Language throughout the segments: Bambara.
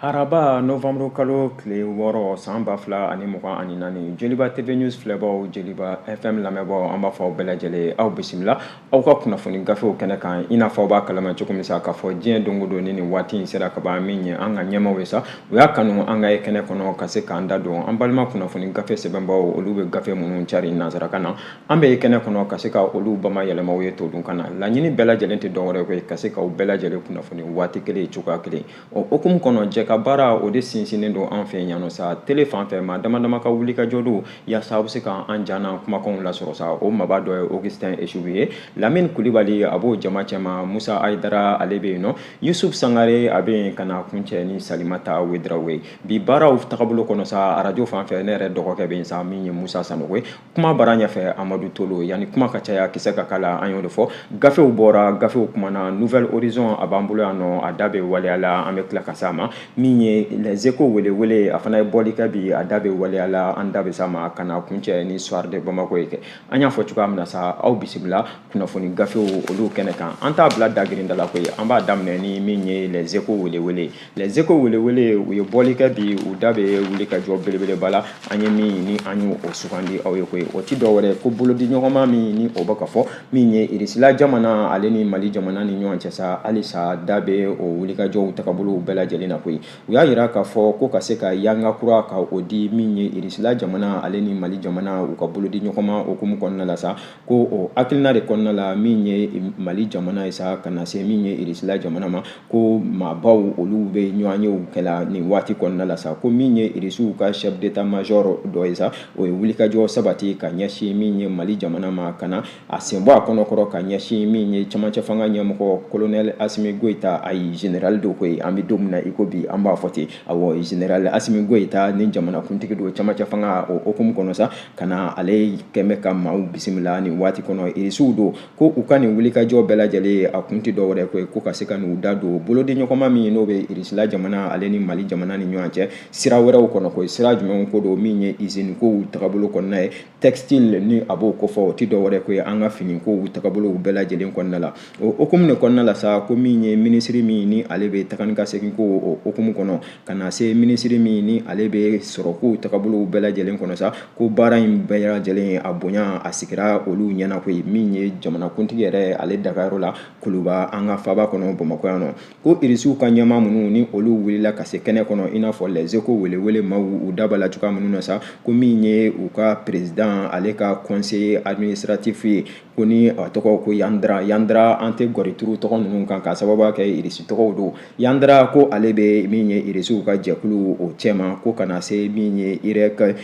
Araba nowanburu kalo tile wɔɔrɔ san ba fila ani mugan ani naani jeliba TV news filɛbaw jeliba FM lamɛnbaw an b'a fɔ aw bɛɛ lajɛlen aw bisimila aw ka kunnafoni gafew kɛnɛ kan i n'a fɔ aw b'a kalama cogo min sa k'a fɔ diɲɛ don o don ni nin waati in sera ka ban min ye an ka ɲɛmaw ye sa u y'a kanu an ka ye kɛnɛ kɔnɔ ka se k'an da don an balima kunnafoni gafe sɛbɛnbaw olu bɛ gafe minnu cari nansarakan na An bɛ ye kɛnɛ kɔnɔ ka se ka olu bamayɛlɛma aw ye todunkan na laɲini bɛɛ lajɛlen tɛ dɔ wɛrɛ koyi ka se k'aw bɛɛ lajɛlen kunnafoni waati kelen cogoya kelen o hukumu kɔnɔ jɛkabaara o de sinsinnen don an fɛ yan nɔ sa tele fan fɛ maa dama dama ka wulikajɔ don yaasa aw bɛ se ka an ja n'an kumakanw lasɔrɔ sa o maaba dɔ ye augustin esubu ye lamini kulibali a b'o jama cɛma musa ayidara ale bɛ yen nɔ yusufu sangare a bɛ yen ka na kuncɛ ni salimata wedarawogo ye bi baaraw taabolo kɔnɔ sa arajo fan fɛ ne yɛrɛ dɔgɔkɛ bɛ yen sa min ye musa sanɔgɔ ye kuma bara ɲɛfɛ amadu tolo yanni kuma ka caya kisɛ ka k'a la an y'o de fɔ gafew bɔra gafew kumana nouvelle horizon a b'an bolo yan nɔ a da bɛ waleya la an bɛ tila ka s'a ma min ye les échos welewele a fana ye bɔli kɛ bi a da bɛ waleya la an da bɛ s'a ma ka na kuncɛ ni soir de bamako ye kɛ an y'a fɔ cogoya min na sa aw bisimila kunnafoni gafew olu kɛnɛ kan an t'a bila dagirinda la koyi an b'a daminɛ ni min ye les échos welewele les échos welewele u ye bɔli kɛ bi u da bɛ wulikajɔ belebeleba la an ye min ni an y'o sugandi aw ye koyi o ti dɔ wɛrɛ ko bolodiɲɔgɔnma min ni o bɛ ka fɔ min ye irisila jamana ale ni mali jamana ni ɲɔgɔn cɛ sa halisa da bɛ o wulikajɔw tagabolow bɛɛ lajɛlen na koyi u y'a yira k'a fɔ ko ka se ka yanga kura ka o di min ye irisila jamana ale ni mali jamana u ka bolodiɲɔgɔnma hukumu kɔnɔna la sa ko o hakilina de kɔnɔna la min ye mali jamana ye sa ka na se min ye irisila jamana ma ko maabaw olu bɛ ɲɔgɔnyew kɛla nin waati kɔnɔna la sa ko min ye irisiw ka chef d'état major dɔ ye sa o ye wulikajɔ sabati ka ɲɛsin min ye mali jamana ma ka na a senbɔ a kɔnɔkɔrɔ ka ɲɛsin min ye camancɛ fanga ɲɛmɔgɔ kolonɛl asimi goyita ayi général don koyi an bɛ don min na i ko bi an b'a fɔ ten awɔ général asimi goyita ni jamanakuntigi don camancɛ fanga o hukumu kɔnɔ sa ka na ale kɛmɛ ka maaw bisimila nin waati kɔnɔ irisiw don ko u ka nin wulikajɔ bɛɛ lajɛlen a kun tɛ dɔ wɛrɛ koyi ko ka se ka n'u da don bolodiɲɔgɔnma min n'o bɛ irisila jamana ale ni mali jamana ni ɲɔgɔn cɛ sira wɛrɛw kɔnɔ koyi sira jumɛn ko don min ye izini kow tagabolo kɔnɔna ye textile ni a b'o kofɔ o tɛ dɔ wɛrɛ koyi an ka fini kow tagabolow bɛɛ lajɛlen kɔnɔna la o hukumu de kɔnɔna la sa ko min ye minisiri min ni ale bɛ taga ni ka segin ko o hukumu kɔnɔ ka na se minisiri min ni ale bɛ sɔrɔ kow tagabolow bɛɛ lajɛlen kɔnɔ sa ko baara in bɛɛ lajɛlen a bonya a sigira olu ɲɛna koyi min ye jamanakuntigi yɛrɛ ale dagayɔrɔ la kuluba an ka faaba kɔnɔ bamakɔ yan nɔ ko irisiw ka ɲɛmaa minnu ni olu wulila ka se kɛnɛ kɔnɔ i n'a fɔ lɛzeko welewele maaw u da b'a la cogoya minnu na sa ko min ye u ka perezidan ale ka conseil administratif ye ko ni a tɔgɔ ko yandra yandra an tɛ gɔrituru tɔgɔ ninnu kan k'a sababuya kɛ irisi tɔgɔw don yandra ko ale bɛ min ye irisiw ka jɛkulu o cɛma ko ka na se min ye irɛk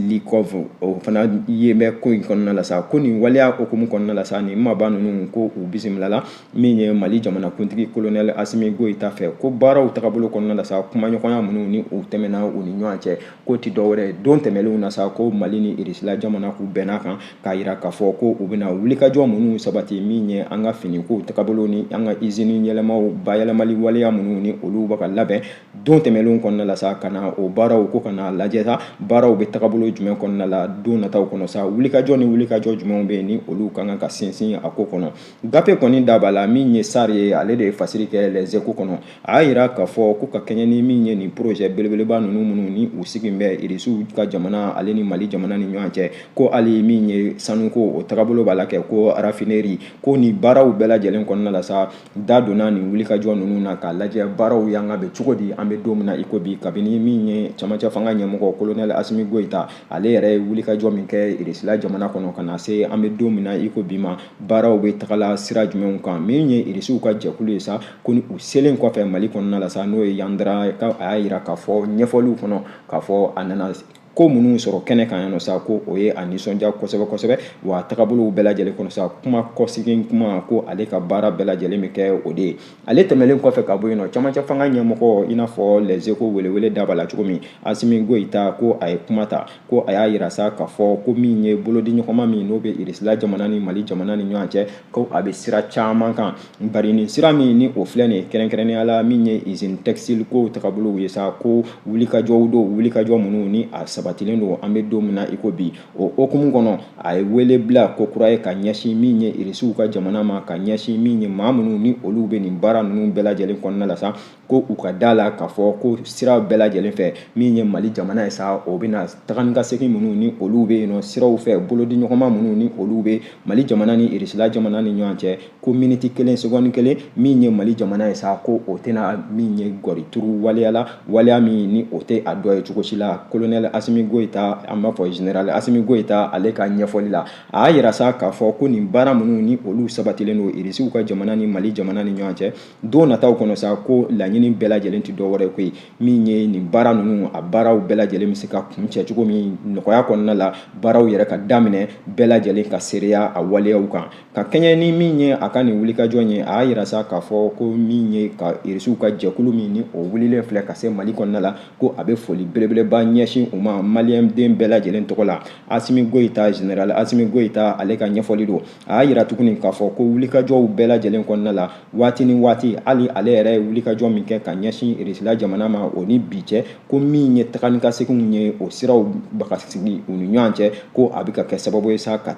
likɔf o fana ye bɛ ko in kɔnɔna la sa ko nin waleya hukumu kɔnɔna la sa nin maba ninnu ko u bisimilala min ye mali jamanakuntigi kolonɛli asimi goyita fɛ ko baaraw tagabolo kɔnɔna la sa kumaɲɔgɔnya minnu ni u tɛmɛna u ni ɲɔgɔn cɛ ko ti dɔwɛrɛ don tɛmɛnlenw na sa ko mali ni irisila jamana k'u bɛnn'a kan k'a yira k'a fɔ ko u bɛna wulikajɔ minnu sabati min ye an ka finikow tagabolo ni an ka izini yɛlɛmaw bayɛlɛmali waleya minnu ni olu bɛ ka labɛn don tɛmɛnlenw kɔnɔna la sa ka na o baaraw ko ka n'a lajɛ sa baaraw bɛ tagabolo jumɛn kɔnɔna la don nataw kɔnɔ sa wulikajɔ ni wulikajɔ jumɛnw bɛ yen ni olu ka kan ka sinsin a ko kɔnɔ Gafe kɔni da b'a la min ye sari ye ale de ye fasiri kɛ lɛzeko kɔnɔ a y'a yira k'a fɔ ko ka kɛɲɛ ni min ye nin porozɛ belebeleba ninnu minnu ni u sigi bɛ irisiw ka jamana ale ni mali jamana ni ɲɔgɔn cɛ ko hali min ye sanuko o tagabolo b'a la kɛ ko rafineri ko ni baaraw bɛɛ lajɛlen kɔnɔna la sa da donna nin wulikajɔ ninnu na k'a lajɛ baaraw yan ka bɛ cogo di an bɛ don min na iko bi kabini min ye camancɛ fanga ɲɛmɔgɔ kolonɛli asimi goyita ale yɛrɛ ye wulikajɔ min kɛ irisila jamana kɔnɔ ka na se an bɛ don min na iko bi ma baaraw bɛ tagala sira jumɛnw kan min ye irisiw ka jɛkulu ye sa ko ni u selen kɔfɛ mali kɔnɔna la sa n'o ye yandra a y'a yira k'a fɔ ɲɛfɔliw kɔnɔ k'a fɔ a nana ko minnu sɔrɔ kɛnɛ kan yan nɔ sa ko o ye a nisɔndiya kosɛbɛ kosɛbɛ wa tagabolow bɛɛ lajɛlen kɔnɔ sa kuma kɔsegin kuma ko ale ka baara bɛɛ lajɛlen bɛ kɛ o de ye ale tɛmɛnlen kɔfɛ ka bɔ yen nɔ camancɛ fanga ɲɛmɔgɔ i n'a fɔ lɛzeko welewele da b'a la cogo min asimi goyita ko a ye kuma ta ko a y'a yira sa k'a fɔ ko min ye bolodiɲɔgɔnma min n'o bɛ irisila jamana ni mali jamana ni ɲɔgɔn cɛ ko a bɛ sira caman kan bari nin sira min ni o filɛ nin kɛrɛnkɛrɛnnenya la min ye izini tɛkisitili ko tagabolow ye sa ko wulikajɔw don wulikajɔ minnu ni a sabatilen don an bɛ don min na iko bi o hukumu kɔnɔ a ye wele bila kokura ye ka ɲɛsin min ye irisiw ka jamana ma ka ɲɛsin min ye maa minnu ni olu bɛ nin baara ninnu bɛɛ lajɛlen kɔnɔna la sa ko u ka da la k'a fɔ ko sira bɛɛ lajɛlen fɛ min ye mali jamana ye sa o bɛna taga ni ka segin minnu ni olu bɛ yen nɔ siraw fɛ bolodiɲɔgɔnma minnu ni olu bɛ mali jamana ni irisila jamana ni ɲɔgɔn cɛ ko miniti kelen segɔni kelen min ye mali jamana ye sa ko o tɛna min ye gɔrituru waleya la waleya min ni o tɛ a dɔ ye cogo si la kolonɛli asimi goyita an b'a fɔ generali asimi goyita ale ka ɲɛfɔli la a y'a yira sa k'a fɔ ko nin baara minnu ni olu sabatilen don irisiw ka jamana ni mali jamana ni ɲɔgɔn cɛ don nataw kɔnɔ sa ko laɲini bɛɛ lajɛlen tɛ dɔ wɛrɛ koyi min ye nin baara ninnu a baaraw bɛɛ lajɛlen bɛ se ka kuncɛ cogo min nɔgɔya kɔnɔna la baaraw yɛrɛ ka daminɛ bɛɛ lajɛlen ka seereya a waleyaw kan ka kɛɲɛ ni min ye a ka nin wulikajɔ ye a y'a yira sa k'a fɔ ko min ye ka irisiw ka jɛkulu min ni o wulilen filɛ ka se mali kɔnɔna la ko a bɛ foli belebeleba ɲɛsin u ma maliyɛnden bɛɛ lajɛlen tɔgɔ la asimi goyita general asimi goyita ale ka ɲɛfɔli don a y'a yira tuguni k'a fɔ ko wulikajɔw bɛɛ lajɛlen kɔnɔna la waati ni waati hali ale yɛrɛ ye wulikajɔ min kɛ ka ɲɛsin irisila jamana ma o ni bi cɛ ko min ye taga ni ka seginw ye o siraw bɛ ka sigi u ni ɲɔgɔn cɛ ko a bɛ ka kɛ sababu ye sa ka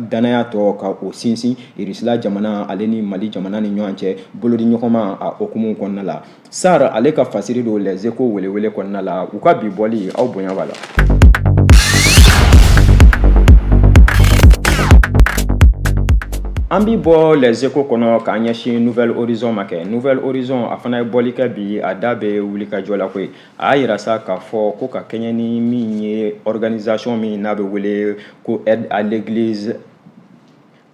danaya tɔ ka o sinsin irisila jamana ale ni mali jamana ni ɲɔgɔn cɛ bolodiɲɔgɔnma a hukumu kɔnɔna la Sar ale ka fasiri don Les Echos welewele kɔnɔna la, u ka bi bɔli aw bonya b'a la. An bi bɔ Les Echos kɔnɔ k'an ɲɛsin Nouvel Horizon ma kɛ. Nouvel Horizon a fana ye bɔli kɛ bi, a da bɛ wulikajɔ la koyi. A y'a yira sa k'a fɔ ko ka kɛɲɛ ni min ye organisation min n'a bɛ wele ko Aide à l'Eglise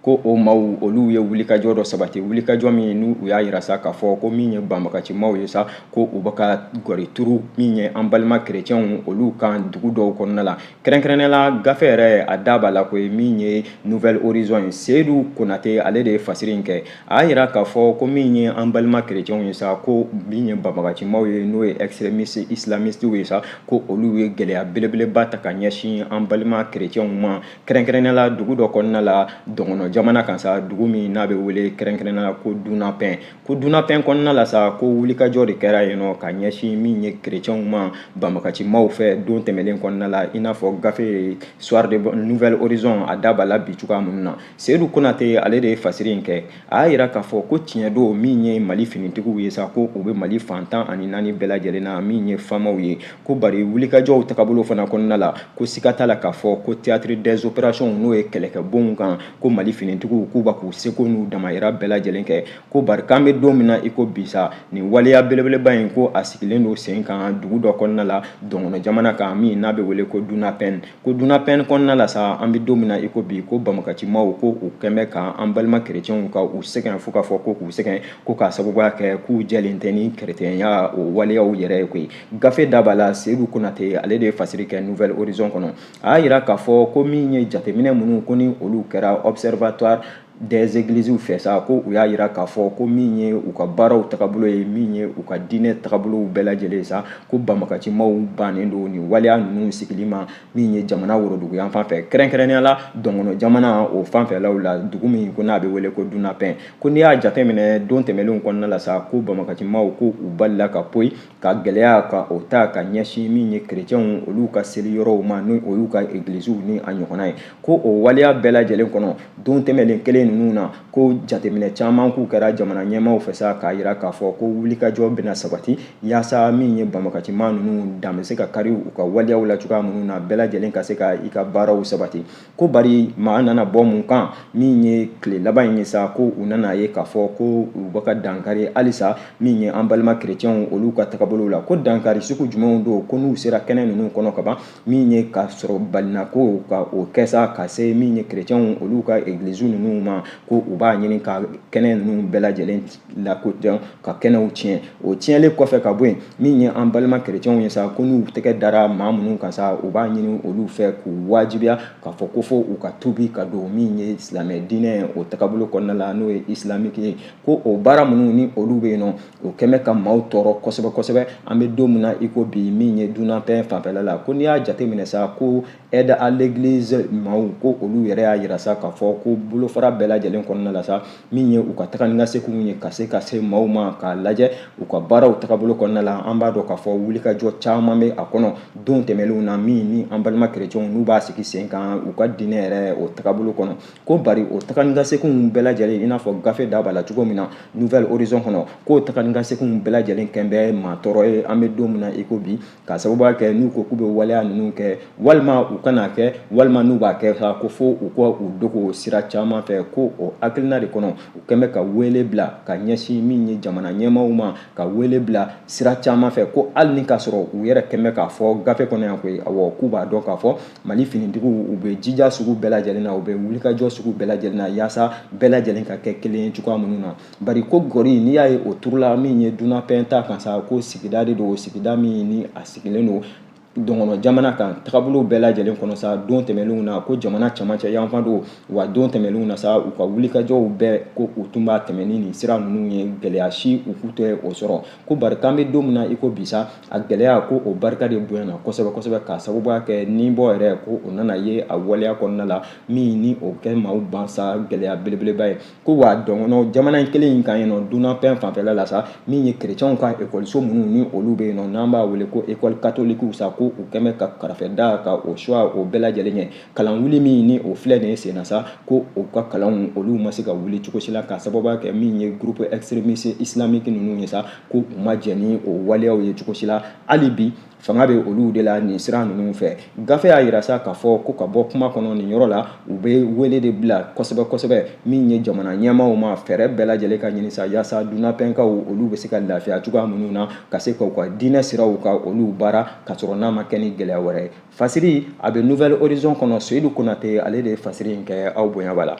ko o maaw olu ye wulikajɔ dɔ sabati wulikajɔ min n'u y'a yira sa k'a fɔ ko min ye banbagacimaw ye sa ko u bɛ ka gɔri turu min ye an balima kerecɛnw olu kan dugu dɔw kɔnɔna la kɛrɛnkɛrɛnnenya la gafe yɛrɛ a da b'a la koyi min ye nouvel horizon ye seyidu konate ale de ye fasiri in kɛ a y'a yira k'a fɔ ko min ye an balima kerecɛnw ye sa ko min ye banbagacimaw ye n'o ye extrémiste islamistiw ye sa ko olu ye gɛlɛya belebeleba ta ka ɲɛsin an balima kerecɛnw ma kɛrɛnkɛrɛnnenya la dugu dɔ kɔnɔna la dɔngɔnɔ jamana kan sa dugu min n'a bɛ wele kɛrɛnkɛrɛnnenya la ko dunapɛn ko dunapɛn kɔnɔna la sa ko wulikajɔ de kɛra yen nɔ ka ɲɛsin min ye kerecɛnw ma banbagacimaw fɛ don tɛmɛnen kɔnɔna la i n'a fɔ gafe soir de nouvel horizon a da b'a la bi cogoya minnu na seyidu konate ale de ye fasiri in kɛ a y'a yira k'a fɔ ko tiɲɛ don min ye mali finitigiw ye sa ko u bɛ mali fan tan ani naani bɛɛ lajɛlen na min ye famaw ye ko bari wulikajɔw tagabolo fana kɔnɔna la ko siga t'a la k'a fɔ ko théâtre des opérations n'o ye kɛlɛkɛbonw kan ko mali finitigiw k'u bɛ k'u seko n'u damayira bɛɛ lajɛlen kɛ ko bari k'an bɛ don min na i ko bi sa nin waleya belebeleba in ko a sigilen don sen kan dugu dɔ kɔnɔna la dɔngɔnɔ jamana kan min n'a bɛ wele ko dunapɛn ko dunapɛn kɔnɔna la sa an bɛ don min na i ko bi ko banbagacimaw ko u kɛlen bɛ ka an balima kerecɛnw ka u sɛgɛn fo k'a fɔ ko k'u sɛgɛn ko k'a sababuya kɛ k'u jɛlen tɛ ni kerecɛnya o waleyaw yɛrɛ ye koyi gafe da b'a la seyidu konate ale de ye fasiri kɛ nouvel horizon kɔnɔ a y'a yira k'a fɔ ko min ye jateminɛ minnu ko ni olu kɛra observatoire des églisiw fɛ sa ko u y'a yira k'a fɔ ko min ye u ka baaraw tagabolo ye min ye u ka diinɛ tagabolow bɛɛ lajɛlen ye sa ko banbagacimaw bannen don nin waleya ninnu sigili ma min ye jamana woroduguyanfan fɛ kɛrɛnkɛrɛnnenya la dɔngɔnɔ jamana o fanfɛlaw la dugu min ko n'a bɛ wele ko dunapɛn ko n'i y'a jateminɛ don tɛmɛnlenw kɔnɔna la sa ko banbagacimaw ko u balila ka poyi ka gɛlɛya ka o ta ka ɲɛsin min ye kerecɛnw olu ka seli yɔrɔw ma ni o y'u ka egilisiw ni a ɲɔgɔnna ye ko o waleya bɛɛ lajɛlen kɔnɔ don tɛmɛnen kelen ninnu na ko jateminɛ caman k'u kɛra jamana ɲɛmaaw fɛ sa k'a yira k'a fɔ ko wulikajɔ bɛna sabati yaasa min ye banbagaci maa ninnu dan bɛ se ka kari u ka waleyaw la cogoya minnu na bɛɛ lajɛlen ka se ka i ka baaraw sabati ko bari maa nana bɔ mun kan min ye tile laban in ye sa ko u nana ye k'a fɔ ko u bɛ ka dankari halisa min ye an balima kerecɛnw olu ka tagabolow la ko dankari sugu jumɛnw don ko n'u sera kɛnɛ ninnu kɔnɔ ka ban min ye ka sɔrɔ balina ko ka o kɛ sa ka se min ye kerecɛnw olu ka egiliziw ninnu ma ko u b'a ɲini ka kɛnɛ ninnu bɛɛ lajɛlen lakodɔn ka kɛnɛw tiɲɛ o tiɲɛlen kɔfɛ ka bɔ yen min ye an balima kerecɛnw ye sa ko n'u tɛgɛ dara maa minnu kan sa u b'a ɲini olu fɛ k'u wajibiya k'a fɔ ko fo u ka tubi ka don min ye silamɛ diinɛ o tagabolo kɔnɔna la n'o ye isilamiki ye ko o baara minnu ni olu bɛ yen nɔ o kɛn bɛ ka maaw tɔɔrɔ kosɛbɛ kosɛbɛ an bɛ don min na i ko bi min ye dunapɛn fanfɛla la ko n'i y'a jateminɛ sa ko aide à l'église maaw ko olu yɛrɛ y'a yira sa k'a fɔ ko bolofara bɛɛ lajɛlen kɔnɔna la sa min ye u ka taga ni ka seginw ye ka se ka se maaw ma k'a lajɛ u ka baaraw tagabolo kɔnɔna la an b'a dɔn k'a fɔ wulikajɔ caman bɛ a kɔnɔ don tɛmɛnlenw na min ni an balima kerecɛnw n'u b'a sigi sen kan u ka diinɛ yɛrɛ o tagabolo kɔnɔ ko bari o taga ni ka seginw bɛɛ lajɛlen i n'a fɔ gafe da b'a la cogo min na nouvel horizon kɔnɔ k'o taga ni ka seginw bɛɛ lajɛlen kɛn bɛ maa tɔɔrɔ ye an bɛ don min na i ko bi k'a sababuya kɛ n'u ko k'u bɛ waleya ninnu kɛ walima u kana kɛ walima n'u b'a kɛ sa ko fo u ka u dogo sira caman fɛ ko o hakilina de kɔnɔ u kɛn bɛ ka wele bila ka ɲɛsin min ye jamana ɲɛmaaw ma ka wele bila sira caman fɛ ko hali ni k'a sɔrɔ u yɛrɛ kɛn bɛ k'a fɔ gafe kɔnɔ yan koyi awɔ k'u b'a dɔn k'a fɔ mali finitigiw u bɛ jija sugu bɛɛ lajɛlen na u bɛ wulikajɔ sugu bɛɛ lajɛlen na yaasa bɛɛ lajɛlen ka kɛ kelen ye cogoya minnu na bari ko gɔri n'i y'a ye o turula min ye dunapɛn ta kan sa ko sigida de don sigida min ni a sigilen don dɔgɔnɔ jamana kan tagabolo bɛɛ lajɛlen kɔnɔ sa don tɛmɛnenw na ko jamana camancɛ yanfan don wa don tɛmɛnenw na sa u ka wulikajɔw bɛɛ ko u tun b'a tɛmɛn ni nin sira ninnu ye gɛlɛya si u k'u tɛ o sɔrɔ ko bari k'an bɛ don min na i ko bi sa a gɛlɛya ko o barika de bonyana kosɛbɛ kosɛbɛ k'a sababuya kɛ ni bɔ yɛrɛ ko o nana ye a waleya kɔnɔna la min ni o kɛ maaw ban sa gɛlɛya belebeleba ye ko wa dɔgɔnɔ jamana in kelen in kan yen nɔ dunapɛn fanfɛla la sa min ye kerecɛnw ka ekɔliso minnu ni olu bɛ yen nɔ n'an b'a wele ko ekɔli katolikiw sa ko u kɛn bɛ ka karafe da ka o suwa o bɛɛ lajɛlen ɲɛ kalan wuli min ni o filɛ nin ye senna sa ko u ka kalanw olu ma se ka wuli cogo si la k'a sababuya kɛ min ye groupe extrémiste islamique ninnu ye sa ko u ma jɛn ni o waleyaw ye cogo si la hali bi fanga bɛ olu de la nin sira ninnu fɛ gafe y'a yira sa k'a fɔ ko ka bɔ kuma kɔnɔ nin yɔrɔ la u bɛ wele de bila kosɛbɛ kosɛbɛ min ye jamana ɲɛmaaw ma fɛɛrɛ bɛɛ lajɛlen ka ɲini sa yaasa dunapɛnkaw olu bɛ se ka lafiya cogoya minnu na ka se ka u ka diinɛ siraw ka olu baara ka sɔrɔ n'a ma kɛ ni gɛlɛya wɛrɛ ye fasiri a bɛ nouvelle horizon kɔnɔ seyidu konate ale de ye fasiri in kɛ aw bonya b'a la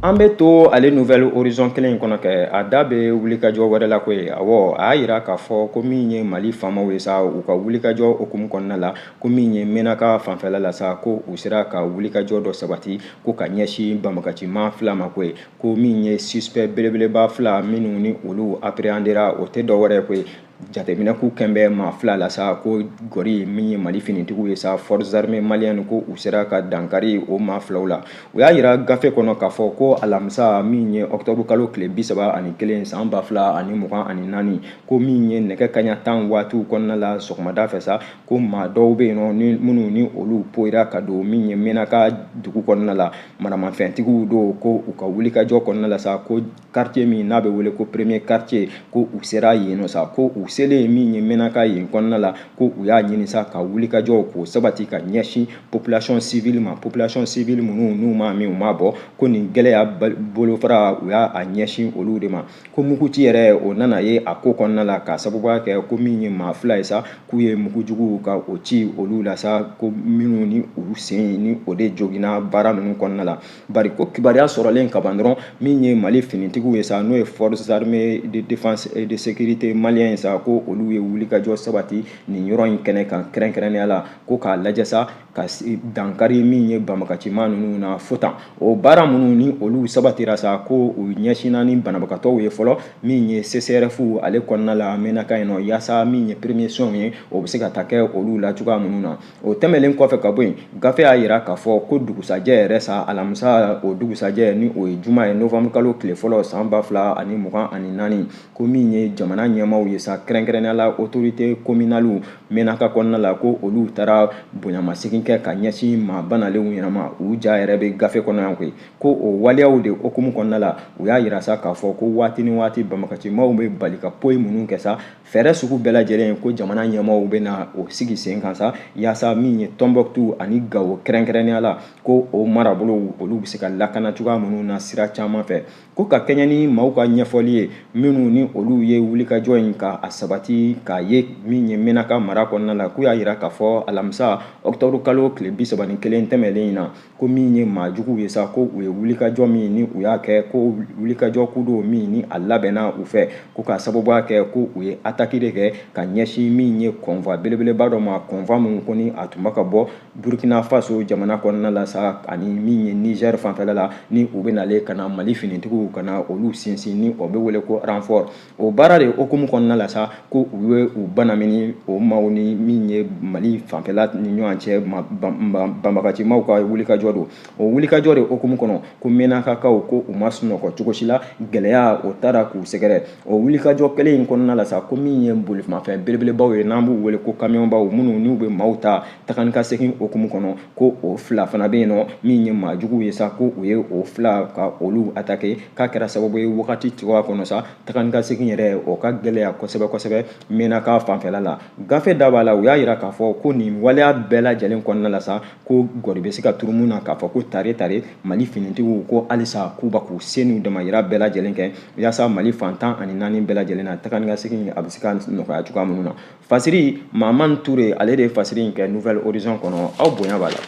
An bɛ to ale nouvelle horizon kelen in kɔnɔ kɛ, a da bɛ wulikajɔ wɛrɛ la koyi, awɔ, a y'a yira k'a fɔ ko min ye Mali faamaw ye sa, u ka wulikajɔ hukumu kɔnɔna la, ko min ye Menaka fanfɛla la sa, ko u sera ka wulikajɔ dɔ sabati, ko ka ɲɛsin banbagacimaa fila ma koyi, ko min ye suspect belebeleba fila minnu ni olu appréhendera o tɛ dɔ wɛrɛ ye koyi, jateminɛ k'u kɛn bɛ maa fila la sa ko gɔri min ye mali finitigiw ye sa forces armées maliennes ko u sera ka dankari o maa filaw la u y'a yira gafe kɔnɔ k'a fɔ ko alamisa min ye ɔkutɔbu kalo tile bi saba ani kelen san ba fila ani mugan ani naani ko min ye nɛgɛ kaɲa tan waatiw kɔnɔna la sɔgɔmada fɛ sa ko maa dɔw bɛ yen nɔ ni minnu ni olu poyira ka don min ye mɛnaka dugu kɔnɔna la maramafɛntigiw don ko u ka wulikajɔ kɔnɔna la sa ko quartier min n'a bɛ wele ko premier quartier ko u sera yen nɔ sa ko u selen yen min ye mɛnaka yen kɔnɔna la ko u y'a ɲini sa ka wulikajɔw k'o sabati ka ɲɛsin population civile ma population civile minnu n'u ma min u ma bɔn ko nin gɛlɛya bolofara u y'a ɲɛsin olu de ma ko muguci yɛrɛ o nana ye a ko kɔnɔna la ka sababuya kɛ ko min ye maa fila ye sa k'u ye mugujugu ka o ci olu la sa ko minnu ni u sen ni o de joginna baara ninnu kɔnɔna la bari ko kibaruya sɔrɔlen kaban dɔrɔn min ye mali finitigiw ye sa n'o ye forces armées de défense et de sécurité malien ye sa ko olu ye wulikajɔ sabati nin yɔrɔ in kɛnɛ kan kɛrɛnkɛrɛnnenya la ko k'a lajɛ sa ka dankari min ye banbagacimaa ninnu na fo tan o baara minnu ni olu sabatira sa ko u ɲɛsinna ni banabagatɔw ye fɔlɔ min ye csref ale kɔnɔna la mɛnaka yen nɔ yaasa min ye premier soins ye o bɛ se ka taa kɛ olu la cogoya minnu na o tɛmɛnlen kɔfɛ ka bɔ yen gafe y'a yira k'a fɔ ko dugusajɛ yɛrɛ sa alamisa o dugusajɛ ni o ye juma ye novanburu kalo tile fɔlɔ san ba fila ani mugan ani naani ko min ye jamana ɲɛmaaw ye sa kɛrɛnkɛrɛnnenya la autorité communalew mɛnaka kɔnɔna la ko olu taara bonyamasegin kɛ ka ɲɛsin maa banalenw ɲɛnama u ja yɛrɛ bɛ gafe kɔnɔ yan koyi ko o waleyaw de hukumu kɔnɔna la u y'a yira sa k'a fɔ ko waati ni waati banbagacimaaw bɛ bali ka poyi minnu kɛ sa Fɛɛrɛ sugu bɛɛ lajɛlen ko jamana ɲɛmaaw bɛ na o sigi sen kan sa yaasa min ye tɔnbukutu ani gawo kɛrɛnkɛrɛnnenya la ko o marabolo olu bɛ se ka lakana cogoya minnu na sira caman fɛ ko ka kɛɲɛ ni maaw ka ɲɛfɔli ye minnu ni olu ye wulikajɔ in ka a sabati k'a ye min ye mɛnaka mara kɔnɔna la k'u y'a yira k'a fɔ alamisa ɔkutɔburu kalo tile bi saba ni kelen tɛmɛnlen in na ko min ye maajuguw ye sa ko u ye wulikajɔ min ni u y'a kɛ ko wulikajɔ ku don min ni a labɛnna u fɛ ko k'a sababuya kɛ ko u ye ataki de kɛ ka ɲɛsin min ye kɔnva belebeleba dɔ ma kɔnva min ko ni a tun bɛ ka bɔ burkina faso jamana kɔnɔna la sa ani min ye nizɛri fanfɛla la ni u bɛ nalen ka na mali finitigiw ka na olu sinsin ni o bɛ wele ko ranfɔr o baara de hukumu kɔnɔna la sa ko u ye u banamini o maaw ni min ye mali fanfɛla ni ɲɔgɔn cɛ banbagacimaw ka wulikajɔ don o wulikajɔ de hukumu kɔnɔ ko mɛnakakaw ko u ma sunɔgɔ cogo si la gɛlɛya o taara k'u sɛgɛrɛ o wulikajɔ kelen in kɔnɔna la sa ko min ye bolimafɛn belebelebaw ye n'an b'u wele ko kamiyɔnbaw minnu n'u bɛ maaw ta taga ni ka segin hukumu kɔnɔ ko o fila fana bɛ yen nɔ min ye maajuguw ye sa ko u ye o fila ka olu atake k'a kɛra sababu ye wagati cogoya kɔnɔ sa taga ni ka segin yɛrɛ o ka gɛlɛya kosɛbɛ kosɛbɛ mɛnaka fanfɛla la gafe da b'a la u y'a yira k'a fɔ ko nin waleya bɛɛ lajɛlen kɔnɔna la sa ko gɔri bɛ se ka turu mun na k'a fɔ ko tare tare mali finitigiw ko halisa k'u bɛ k'u se n'u damayira bɛɛ lajɛlen kɛ yaasa mali fan tan ani naani bɛɛ lajɛlen na taga ni ka segin a bɛ se ka nɔgɔya cogoya minnu na Fasiri Mahamani Ture ale de ye fasiri in kɛ Nouvel Horizon kɔnɔ aw bonya b'a la.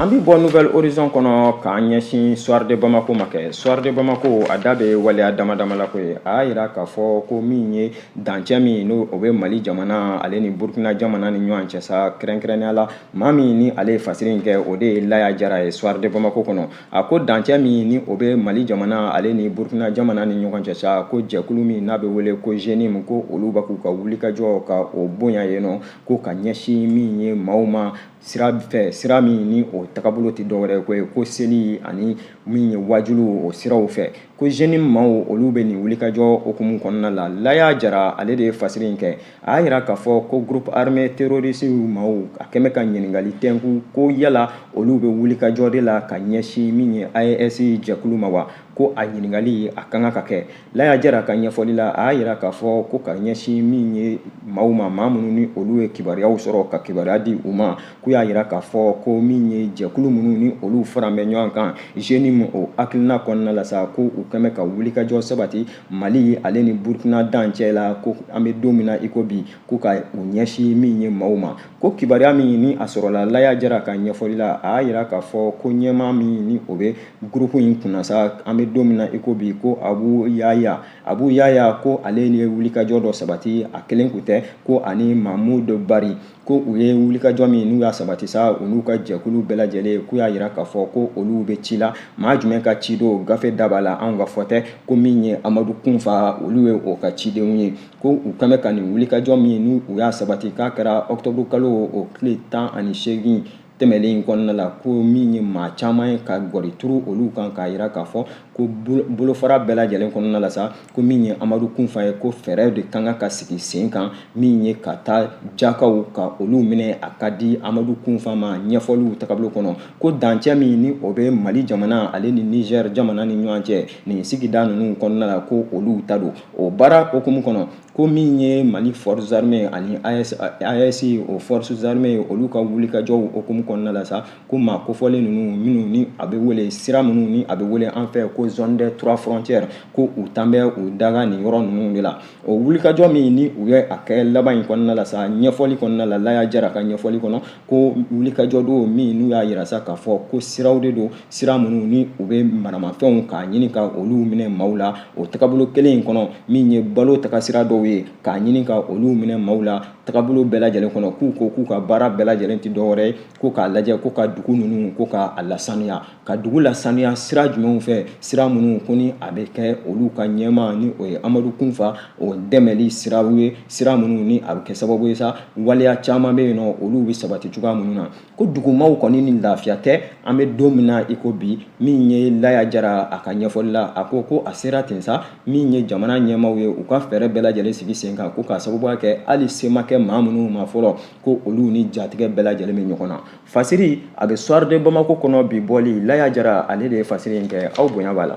An bi bɔ Nouvel Horizon kɔnɔ k'an ɲɛsin Soir de Bamako ma kɛ. Soir de Bamako a da bɛ waleya dama dama la ko ye. A y'a yira k'a fɔ ko min ye dancɛ min n'o o bɛ Mali jamana ale ni Burkina jamana ni ɲɔgɔn cɛ sa kɛrɛnkɛrɛnnenya la maa min ni ale ye fasiri in kɛ o de ye Laya Jara ye Soir de Bamako kɔnɔ. a ko dancɛ min ni o bɛ mali jamana ale ni burukina jamana ni ɲɔgɔn cɛ sa ko jɛkulu min n'a bɛ wele ko zenim ko olu bɛ k'u ka wulikajɔ ka o bonya yen nɔ ko ka ɲɛsin min ye maaw ma sira fɛ sira min ni o tagabolo tɛ dɔwɛrɛ ko ye ko seli ani min ye waajulu o siraw fɛ ko zenim maaw olu bɛ nin wulikajɔ hukumu kɔnɔna la laya jara ale de ye fasiri in kɛ a y'a yira k'a fɔ ko groupe armé terroriste maaw a kɛmɛ ka ɲininkali tɛnku ko yala olu bɛ wulikajɔ de la ka ɲɛsin min ye AES jɛkulu ma wa ko a ɲininkali a ka kan ka kɛ Laya Jara ka ɲɛfɔli la a y'a yira k'a fɔ ko ka ɲɛsin min ye maaw ma maa minnu ni olu ye kibaruyaw sɔrɔ ka kibaruya di u ma k'u y'a yira k'a fɔ ko min ye jɛkulu minnu ni olu faran bɛ ɲɔgɔn kan JNIM o hakilina kɔnɔna la sa ko u kɛmɛ ka wulikajɔ sabati mali ale ni burkina dancɛ la ko an bɛ don min na iko bi ko ka u ɲɛsin min ye maaw ma ko kibaruya min ni a sɔrɔla laya jara ka ɲɛfɔli la a y'a yira k'a fɔ ko ɲɛmaa min ni o bɛ gurupu in kunna sa an bɛ don min na iko bi ko abu yaya abu yaya ko ale ye wulikajɔ dɔ sabati a kelen kun tɛ ko ani mamudu bari ko u ye wulikajɔ min n'u y'a sabati sa u n'u ka jɛkulu bɛɛ lajɛlen k'u y'a yira k'a fɔ ko olu bɛ ci la maa jumɛn ka ci don gafe da b'a la anw ka fɔ tɛ ko min ye amadu kunfa olu ye o ka cidenw ye ko u kan bɛ ka nin wulikajɔ min n'u y'a sabati k'a kɛra ɔkutɔburu kalo o tile tan ani seegin tɛmɛlen in kɔnɔna la ko min ye maa caman ye ka gɔri turu olu kan k'a yira k'a fɔ ko bolofara bɛɛ lajɛlen kɔnɔna la sa ko min ye amadu kunfa ye ko fɛɛrɛ de kan ka ka sigi sen kan min ye ka taa jakaw ka olu minɛ a ka di amadu kunfa ma ɲɛfɔliw tagabolo kɔnɔ ko dancɛ min ni o bɛ mali jamana ale ni niger jamana ni ɲɔgɔn cɛ nin sigida ninnu kɔnɔna la ko olu ta don o baara hukumu kɔnɔ ko min ye mali forces armées ani AES o forces armées olu ka wulikajɔw hukumu kɔnɔna la sa ko maa kofɔlen ninnu minnu ni a bɛ wele sira minnu ni a bɛ wele an fɛ ko zone des trois frontières ko u tan bɛ u daga nin yɔrɔ ninnu de la o wulikajɔ min ni u ye a kɛ laban in kɔnɔna la sa ɲɛfɔli kɔnɔna la Laya Jara ka ɲɛfɔli kɔnɔ ko wulikajɔ don min n'u y'a yira sa k'a fɔ ko siraw de don sira minnu ni u bɛ maramafɛnw k'a ɲini ka olu minɛ maaw la o tagabolo kelen in kɔnɔ min ye balo tagasira dɔw ye k'a ɲini ka olu minɛ maaw la tagabolo bɛɛ lajɛlen kɔnɔ k'u ko k'u ka baara bɛɛ lajɛlen tɛ dɔwɛrɛ ye ko k'a lajɛ ko ka dugu ninnu ko k'a lasanuya ka dugu lasaniya sira jumɛnw fɛ sira minnu ko ni a bɛ kɛ olu ka ɲɛmaa ni o ye amadu kunfa o dɛmɛli siraw ye sira minnu ni a bɛ kɛ sababu ye sa waleya caman bɛ yen nɔ olu bɛ sabati cogoya minnu na ko dugumaw kɔni ni lafiya tɛ an bɛ don min na i ko bi min ye laya jara a ka ɲɛfɔli la a ko ko a sera ten sa min ye jamana ɲɛmaaw ye u ka fɛɛrɛ bɛɛ lajɛlen sigi sen kan ko k'a sababuya kɛ hali se ma kɛ maa minnu ma fɔlɔ ko olu ni jatigɛ bɛɛ lajɛlen bɛ ɲɔgɔn na Fasiri a bɛ Soir de Bamako kɔnɔ bi bɔli Laya Jara ale de ye fasiri in kɛ aw bonya b'a la.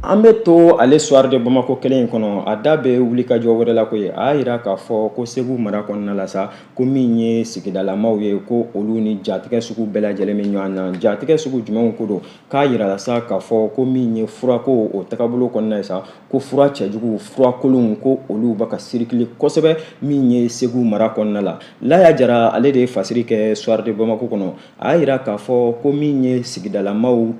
An bɛ to ale Soir de Bamako kelen in kɔnɔ a da bɛ wulikajɔ wɛrɛ la koyi a y'a yira k'a fɔ ko Segu mara kɔnɔna la sa ko min ye sigidalamaw ye ko olu ni jatigɛ sugu bɛɛ lajɛlen bɛ ɲɔgɔn na jatigɛ sugu jumɛnw ko don k'a yirala sa k'a fɔ ko min ye furako o tagabolo kɔnɔna ye sa ko fura cɛjugu fura kolonw ko olu bɛ ka sirikili kosɛbɛ min ye segu mara kɔnɔna la laya jara ale de ye fasiri kɛ soir de bamako kɔnɔ a y'a yira k'a fɔ ko min ye sigidalamaw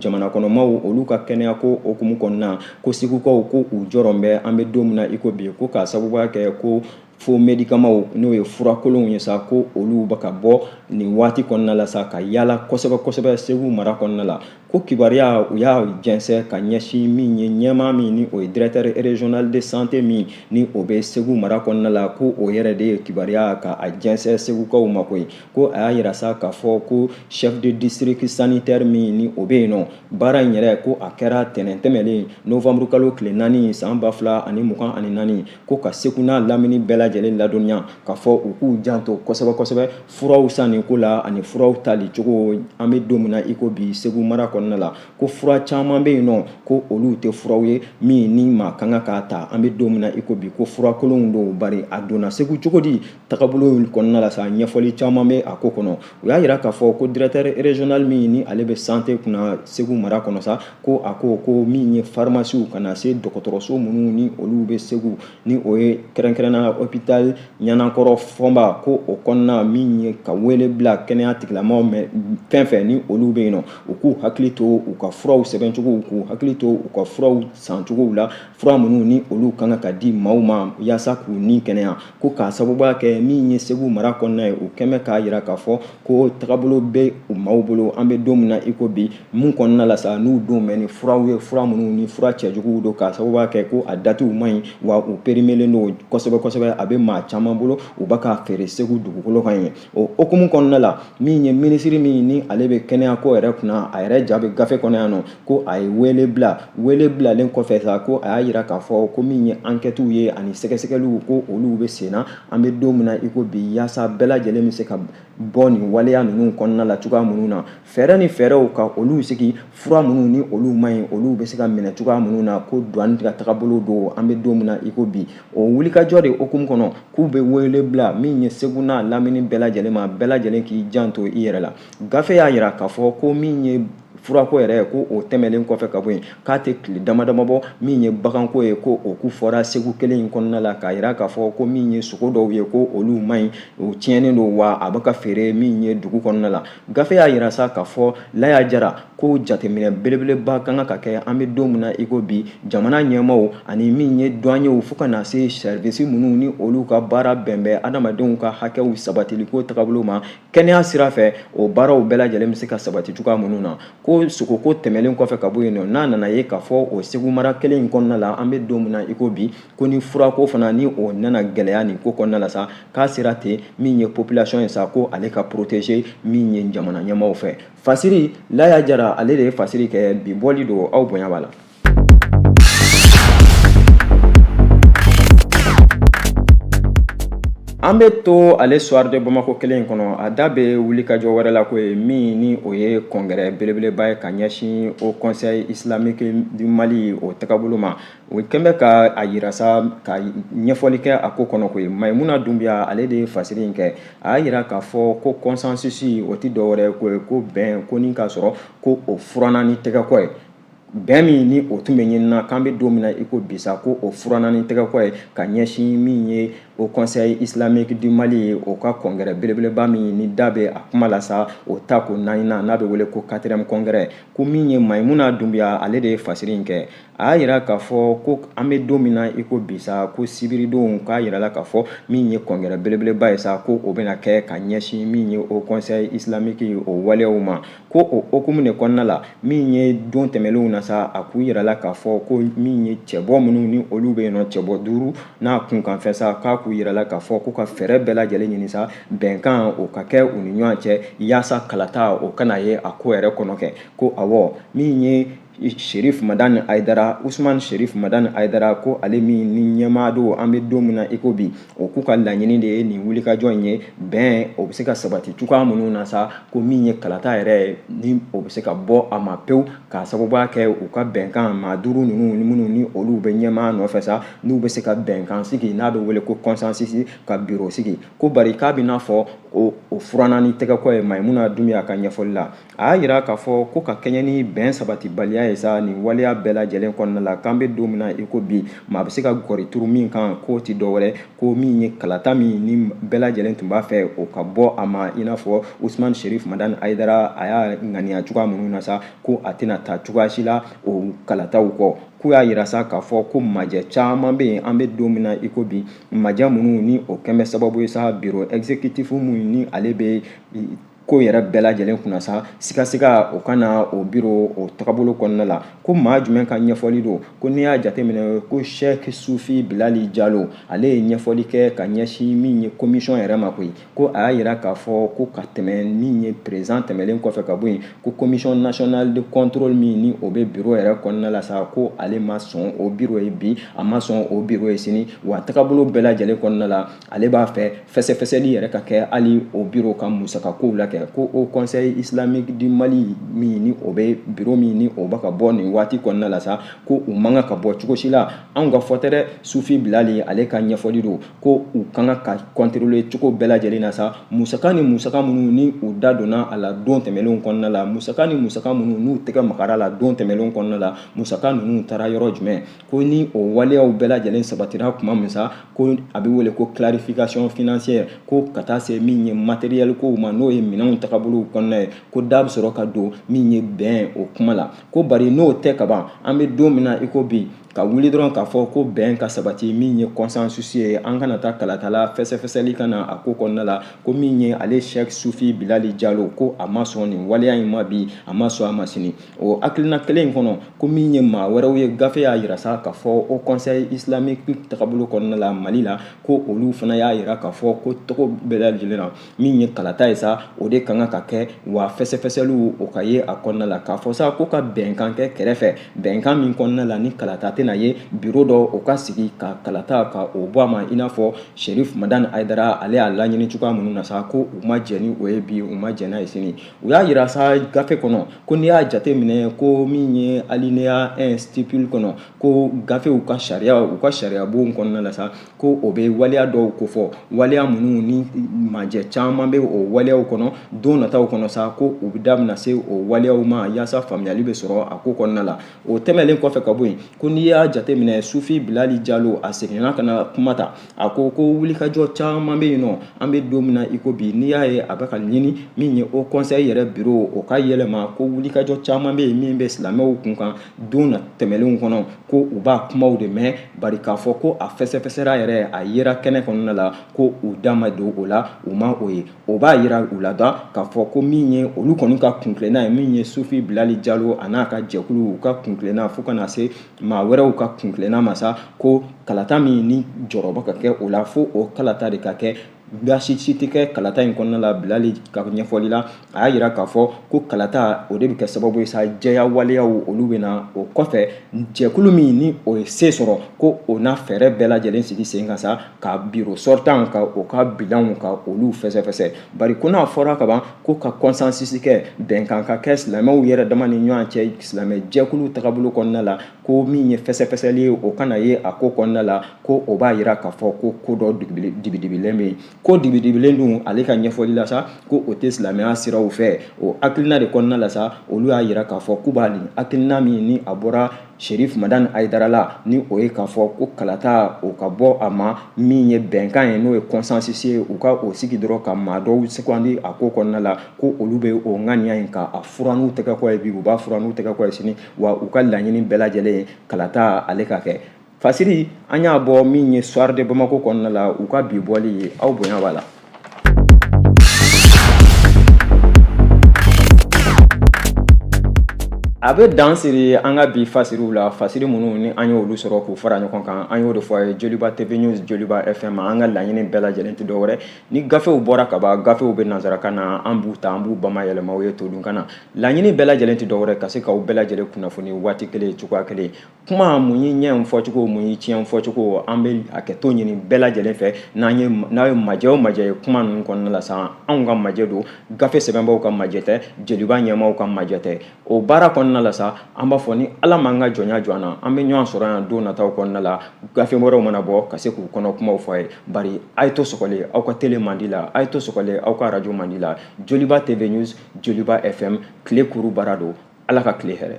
jamana kɔnɔmaw olu ka kɛnɛya ko hukumu kɔnɔna ko segukaw ko u jɔrɔlen bɛ an bɛ don min na i ko bi ko k'a sababuya kɛ ko fo medikamaw n'o ye furakolonw ye sa ko olu bɛ ka bɔ nin waati kɔnɔna la sa ka yaala kosɛbɛ kosɛbɛ segu mara kɔnɔna la ko kibaruya u y'a jɛnsɛ ka ɲɛsin min ye ɲɛmaa min ni o ye directeur régional de santé min ni o bɛ segu mara kɔnɔna la ko o yɛrɛ de ye kibaruya ka a jɛnsɛ segukaw ma koyi ko a y'a yira sa k'a fɔ ko chef de district sanitaire min ni o bɛ yen nɔ baara in yɛrɛ ko a kɛra tɛnɛn tɛmɛlen novembre kalo tile naani san ba fila ani mugan ani naani ko ka segu n'a lamini bɛɛ lajɛlen ladɔnniya k'a fɔ u k'u janto kosɛbɛ kosɛbɛ furaw sanni ko la ani furaw tali cogo an bɛ don min na i ko bi segu mara kɔnɔna la ko fura caman bɛ yen nɔ ko olu tɛ furaw ye min ni maa kan ka k'a ta an bɛ don min na i ko bi ko furakolonw don bari a donna segu cogo di tagabolo kɔnɔna la sa ɲɛfɔli caman bɛ a ko kɔnɔ u y'a jira k'a fɔ ko directeur régional min ni ale bɛ santé kunna segu mara kɔnɔ sa ko a ko ko min ye farimasiw ka na se dɔgɔtɔrɔso minnu ni olu bɛ segu ni o ye kɛrɛnkɛrɛnnenya hôpital ɲanankɔrɔ fɔnba ko o kɔnɔna min ye ka wele bila kɛnɛya tigilamaw fɛn fɛn ni olu bɛ yen nɔ u k'u hakili to u ka furaw sɛbɛncogow k'u hakili to u ka furaw sancogow la fura minnu ni olu kan ka di maaw ma yaasa k'u ni kɛnɛya ko k'a sababuya kɛ min ye segu mara kɔnɔna ye u kɛmɛ k'a jira k'a fɔ ko tagabolo bɛ u maaw bolo an bɛ don min na iko bi min kɔnɔna la sa n'u don bɛ ni furaw ye fura minnu ni fura cɛjuguw don k'a sababuya kɛ ko a datiw man ɲi wa u perimelen don kosɛbɛ kosɛbɛ a bɛ maa caman bolo u bɛ ka feere segu dugukolo kan ye o hukumu kɔnɔna la min ye minisiri min ni ale bɛ kɛnɛya ko yɛrɛ kunna a yɛrɛ ja bɛ gafe kɔnɔ yan nɔ ko a ye wele bila wele bilalen kɔfɛ sa ko a y'a jira k'a fɔ ko min ye ankɛtiw ye ani sɛgɛsɛgɛliw ko olu bɛ sen na an bɛ don min na iko bi yaasa bɛɛ lajɛlen bɛ se ka bɔ nin waleya ninnu kɔnɔna la cogoya minnu na fɛɛrɛ ni fɛɛrɛw ka olu sigi fura minnu ni olu man ɲi olu bɛ se ka minɛ cogoya minnu na ko douane ka tagabolo don an bɛ don min na i ko bi o wulikajɔ de hukumu kɔnɔ k'u bɛ wele bila min ye segu n'a lamini bɛɛ lajɛlen ma bɛɛ lajɛlen k'i janto i yɛrɛ la gafe y'a jira k'a fɔ ko min ye furako yɛrɛ ko o tɛmɛlen kɔfɛ ka bɔ yen k'a tɛ tile damadama bɔ min ye baganko ye ko o kofɔra segu kelen in kɔnɔna la k'a jira k'a fɔ ko min ye sogo dɔw ye ko olu man ɲi o tiɲɛnen don wa a bɛ ka feere min ye dugu kɔnɔna la Gafe y'a jira sa k'a fɔ laya jara ko jateminɛ belebeleba kan ka kɛ an bɛ don min na iko bi jamana ɲɛmaaw ani min ye douaniers fo ka na se service minnu ni olu ka baara bɛn bɛ adamadenw ka hakɛw sabatiliko tagabolo ma kɛnɛya sira fɛ o baaraw bɛɛ lajɛlen bɛ se ka sabati cogoya minnu na ko sogoko tɛmɛlen kɔfɛ ka bɔ yen nɔ n'a nana ye k'a fɔ o segu mara kelen in kɔnɔna la an bɛ don min na iko bi ko ni furako fana ni o nana gɛlɛya nin ko kɔnɔna la sa k'a sera ten min ye population ye sa ko ale ka protéger min ye jamana ɲɛmaaw fɛ fasiri laya jara ale de ye fasiri kɛ bi bɔli don aw bonya b'a la an bɛ to a le soir de bamako kelen in kɔnɔ a da bɛ wulikajɔ wɛrɛ la ko ye min ni o ye congrès belebeleba ye ka ɲɛsin haut conseil islamique du mali o tagabolo ma O kɛlen bɛ ka a jira sa ka ɲɛfɔli kɛ a ko kɔnɔ ko ye Mayimuna Dunbiya ale de ye fasiri in kɛ a y'a jira k'a fɔ ko consensus o tɛ dɔwɛrɛ ko ye ko bɛn ko k'a sɔrɔ ko o furanan ni tɛgɛkɔ ye bɛn min ni o tun bɛ ɲini na k'an bɛ don min na i ko bi sa ko o furanan ni tɛgɛkɔ ye ka ɲɛsin min ye haut conseil islamique du mali ye o ka congrès belebeleba min ni da bɛ a kuma la sa o ta ko naaninan n'a bɛ wele ko quatrième congrès ko min ye Mayimuna Dunbiya ale de ye fasiri in kɛ a y'a jira k'a fɔ ko an bɛ don min na i ko bi sa ko sibiridon u k'a jira la k'a fɔ min ye congrès belebeleba ye sa ko o bɛna kɛ ka ɲɛsin min ye haut conseil islamique o waleyaw ma ko o hukumu de kɔnɔna la min ye don tɛmɛnlenw na sa a k'u yira la k'a fɔ ko min ye cɛbɔ minnu ni olu bɛ yen nɔ cɛbɔ duuru n'a kunkanfɛ sa k'a k'u yira la k'a fɔ ko ka fɛɛrɛ bɛɛ lajɛlen ɲini sa bɛnkan o ka kɛ u ni ɲɔgɔn cɛ yaasa kalata o kana ye a ko yɛrɛ kɔnɔ kɛ ko awɔ min ye Sherif Madani Haidara Ousmane Sherif Madani Haidara ko ale min ni ɲɛmaa don an bɛ don min na i ko bi o k'u ka laɲini de ye nin wulikajɔ in ye bɛn o bɛ se ka sabati cogoya minnu na sa ko min ye kalata yɛrɛ ni o bɛ se ka bɔ a ma pewu k'a sababuya kɛ u ka bɛnkan maa duuru ninnu minnu ni olu bɛ ɲɛmaa nɔfɛ sa n'u bɛ se ka bɛnkan sigi n'a bɛ wele ko consensus ka biro sigi ko bari k'a bɛ n'a fɔ o furanna ni tɛgɛkɔ ye Mayimuna Dunbiya ka ɲɛfɔli la a y'a jira k'a fɔ ko ka kɛɲɛ ni bɛn sabatibaliya ye sa nin waleya bɛɛ lajɛlen kɔnɔna la k'an bɛ don min na i ko bi maa bɛ se ka gɔri turu min kan k'o tɛ dɔwɛrɛ ko min ye kalata min ni bɛɛ lajɛlen tun b'a fɛ o ka bɔ a ma i n'a fɔ usman sherif madani haidara a y'a ŋaniya cogoya minnu na sa ko a tɛna taa cogoya si la o kalataw kɔ k'u y'a yira sa k'a fɔ ko majɛ caman bɛ yen an bɛ don min na i ko bi majɛ minnu ni o kɛlen bɛ sababu ye sa biro exécutif minnu ni ale bɛ ko yɛrɛ bɛɛ lajɛlen kunna sa sigasiga o ka na o biro o tagabolo kɔnɔna la ko maa jumɛn ka ɲɛfɔli don ko n'i y'a jateminɛ ko Sheikh sufi bilali jalo ale ye ɲɛfɔli kɛ ka ɲɛsin min ye commission yɛrɛ ma koyi ko a y'a yira k'a fɔ ko ka tɛmɛ min ye président tɛmɛlen kɔfɛ ka bɔ yen ko commission nationale de contrôle min ni o bɛ biro yɛrɛ kɔnɔna la sa ko ale ma sɔn o biro ye bi a ma sɔn o biro ye sini wa tagabolo bɛɛ lajɛlen kɔnɔna la ale b'a fɛ fɛsɛfɛsɛli yɛrɛ ka kɛ hali o biro ka musaka kow la kɛ ko haut conseil islamique du mali min ni o bɛ biro min ni o bɛ ka bɔ nin waati kɔnɔna la sa ko u man kan ka bɔ cogo si la anw ka fɔ tɛ dɛ sufi bilali ale ka ɲɛfɔli don ko u ka kan ka contrôler cogo bɛɛ lajɛlen na sa musaka ni musaka minnu ni u da donna a la don tɛmɛnlenw kɔnɔna la musaka ni musaka minnu n'u tɛgɛ magara la don tɛmɛnlenw kɔnɔna la musaka ninnu taara yɔrɔ jumɛn ko ni o waleyaw bɛɛ lajɛlen sabatira tuma min sa ko a bɛ wele ko clarification financière ko ka taa se min ye matériel kow ma n'o ye minɛnw tagabolow kɔnɔna ye ko da bɛ sɔrɔ ka don min ye bɛn o kuma la ko bari n'o tɛ ka ban an bɛ don min na i ko bi ka wuli dɔrɔn k'a fɔ ko bɛn ka sabati min ye consensus ye an kana taa kalata la fɛsɛfɛsɛli ka na a ko kɔnɔna la ko min ye ale Sheikh Sufi Bilali Jalo ko a ma sɔn nin waleya in ma bi a ma sɔn a ma sini o hakilina kelen in kɔnɔ ko min ye maa wɛrɛw ye gafe y'a yira sa k'a fɔ haut conseil islamique tagabolo kɔnɔna la mali la ko olu fana y'a yira k'a fɔ ko cogo bɛɛ lajɛlen na min ye kalata ye sa o de ka kan ka kɛ wa fɛsɛfɛsɛliw o ka ye a kɔnɔna la k'a fɔ sa ko ka bɛnkan kɛ kɛrɛfɛ bɛnkan min kɔnɔna la ni kalata tɛna ye biro dɔ o ka sigi ka kalata ka o bɔ a ma i n'a fɔ sherif madani haidara ale y'a laɲini cogoya minnu na sa ko u ma jɛn ni o ye bi u ma jɛn n'a ye sini u y'a jira sa gafe kɔnɔ ko n'i y'a jate minɛ ko min ye alinéa un stipule kɔnɔ ko gafew ka sariya u ka sariyabon kɔnɔna la sa ko o bɛ waleya dɔw kofɔ waleya minnu ni majɛ caman bɛ o waleyaw kɔnɔ don nataw kɔnɔ sa ko u bɛ damina se o waleyaw ma yaasa faamuyali bɛ sɔrɔ a ko kɔnɔna la o tɛmɛnlen kɔfɛ ka bɔ yen ko n'i y'a jate minɛ sufi bilali jalo a seginna ka na kuma ta a ko ko wulikajɔ caman bɛ yen nɔ an bɛ don min na i ko bi n'i y'a ye a bɛ ka ɲini min ye haut conseil yɛrɛ biro o ka yɛlɛma ko wulikajɔ caman bɛ yen min bɛ silamɛw kun kan don na tɛmɛnlenw kɔnɔ ko u b'a kumaw de mɛn bari k'a fɔ ko a fɛsɛfɛsɛra yɛrɛ a yera kɛnɛ kɔnɔna la ko u da ma don o la u ma o ye o b'a yira u la da k'a fɔ ko min ye olu kɔni ka kuntilenna ye min ye sufi bilali jalo a n'a ka jɛkulu u ka kuntilenna fo ka na se maa wɛrɛw ka kuntilenna ma sa ko kalata min ni jɔrɔ bɛ ka kɛ o la fo o kalata de ka kɛ baasi si tɛ kɛ kalata in kɔnɔna la bilali ka ɲɛfɔli la a y'a jira k'a fɔ ko kalata o de bɛ kɛ sababu ye sa jɛya waleyaw olu bɛ na o kɔfɛ jɛkulu min ni o ye se sɔrɔ ko o na fɛɛrɛ bɛɛ lajɛlen sigi sen kan sa ka biro sortant ka o ka bilanw ka olu fɛsɛfɛsɛ bari ko n'a fɔra ka ban ko ka consensus kɛ bɛnkan ka kɛ silamɛw yɛrɛ dama ni ɲɔgɔn cɛ silamɛ jɛkulu tagabolo kɔnɔna la ko min ye fɛsɛfɛsɛli ye o kana ye a ko kɔnɔna la ko o b'a yira k'a fɔ ko ko dɔ dibidibilen bɛ yen ko dibidibilen dun ale ka ɲɛfɔli la sa ko o tɛ silamɛya siraw fɛ o hakilina de kɔnɔna la sa olu y'a yira k'a fɔ k'u b'a nin hakilina min ni a bɔra Serif Madani Ayidara la ni o ye k'a fɔ ko kalata o ka bɔ a ma min ye bɛnkan ye n'o ye consensus ye u ka o sigi dɔrɔn ka maa dɔw sugandi a ko kɔnɔna la ko olu bɛ o ŋaniya in ka a furan n'u tɛgɛkɔ ye bi u b'a furan n'u tɛgɛkɔ ye sini wa u ka laɲini bɛɛ lajɛlen ye kalata ale ka kɛ fasiri an y'a bɔ min ye soir de Bamako kɔnɔna la u ka bi bɔli ye aw bonya b'a la A bɛ dan siri an ka bi fasiriw la fasiri minnu ni an y'olu sɔrɔ k'u fara ɲɔgɔn kan an y'o de fɔ a ye joliba tv news joliba fm an ka laɲini bɛɛ lajɛlen tɛ dɔwɛrɛ ni gafew bɔra ka ban gafew bɛ nanzarakan na an b'u ta an b'u bamayɛlɛma aw ye todunkan na laɲini bɛɛ lajɛlen tɛ dɔwɛrɛ ka se k'aw bɛɛ lajɛlen kunnafoni waati kelen cogoya kelen kuma mun y'i ɲɛ fɔcogo mun y'i tiɲɛ fɔcogo an bɛ hakɛto ɲini bɛɛ lajɛlen fɛ n'an ye n'a ye majɛ o majɛ ye kuma ninnu kɔnɔna la sa anw ka majɛ don gafe sɛbɛnbaaw ka majɛ tɛ joliba ɲɛmaaw ka majɛ tɛ o baara kɔnɔna la sa an b'a fɔ ni ala m'an ka jɔnya jɔ an na an bɛ ɲɔgɔn sɔrɔ yan don nataw kɔnɔna la gafe wɛrɛw mana bɔ ka se k'u kɔnɔ kumaw fɔ a ye bari a ye to sɔgɔlen aw ka tele mandi la a ye to sɔgɔlen aw ka arajo mandi la joliba tv news joliba fm tile kuru baara don ala ka tile hɛrɛ